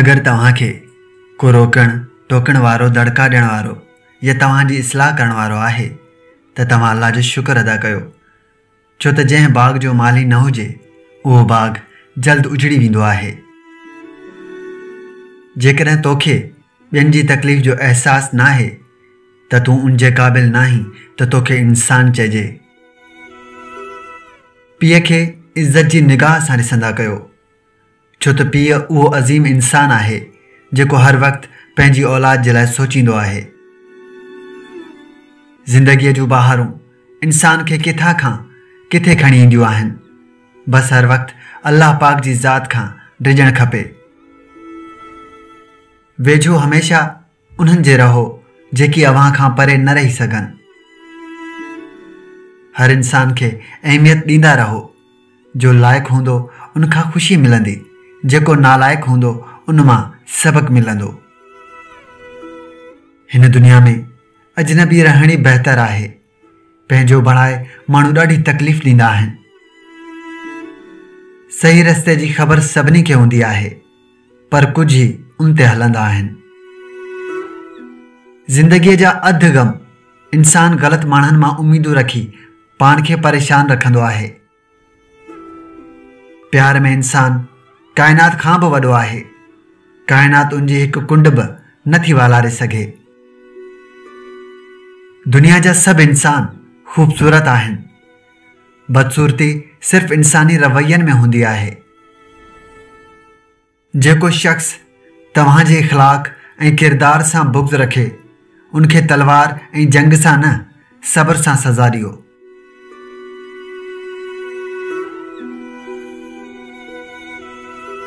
اگر توهان کي ڪو روڪڻ ٽوڪڻ وارو دڙڪا ڏيڻ وارو يا توهان جي اصلاح ڪرڻ وارو آهي ته توهان الله جو شڪر ادا ڪيو ڇو ته جنهن باغ جو مالهي نه هجي، اهو باغ جلد اجڙي ويندو آهي. جيڪڏهن توکي ٻين جي تڪليف جو احساس ناهي ته تون ان جي قابل ناهين ته توکي انسان چئجي. پيء کي عزت جي نگاهه سان ڏسندا ڪيو. ڇو ته پيء اهو عظيم انسان آهي، جيڪو هر وقت پنهنجي اولاد جي لاء سوچيندو آهي. زندگيء جون بهارون انسان کي ڪٿان کان ڪٿي کڻي اينديون آهن. بس هر وقت الله پاڪ جي ذات کان ڊڄڻ کپي. ويجهو هميشه انهن جي رهو جيڪي اوهان کان پري نه رهي سگهن. هر انسان کي اهميت ڏيندا رهو. جو لائق هوندو ان کان خوشي ملندي، جيڪو نالائق هوندو ان مان سبق ملندو. هن دنيا ۾ اجنبي رهڻ ئي بهتر آهي. پنهنجو بڻائي ماڻهو ڏاڍي تڪليف ڏيندا آهن. صحيح رستي جي خبر سڀني کي هوندي آهي پر ڪجهه ئي ان تي هلندا آهن. زندگيء جا اڌ غم انسان غلط ماڻهن مان اميدون رکي پاڻ کي پريشان رکندو آهي. پيار ۾ انسان ڪائنات کان به وڏو آهي، ڪائنات ان جي هڪ ڪنڊ به نه ٿي والاري سگهي. دنيا جا سڀ انسان خوبصورت آهن، بدصورتي صرف انساني روين ۾ هوندي آهي. جيڪو شخص توهان جي اخلاق ۽ ڪردار سان بغض رکي، ان کي تلوار ۽ جنگ سان نه، صبر سان سزا ڏيو.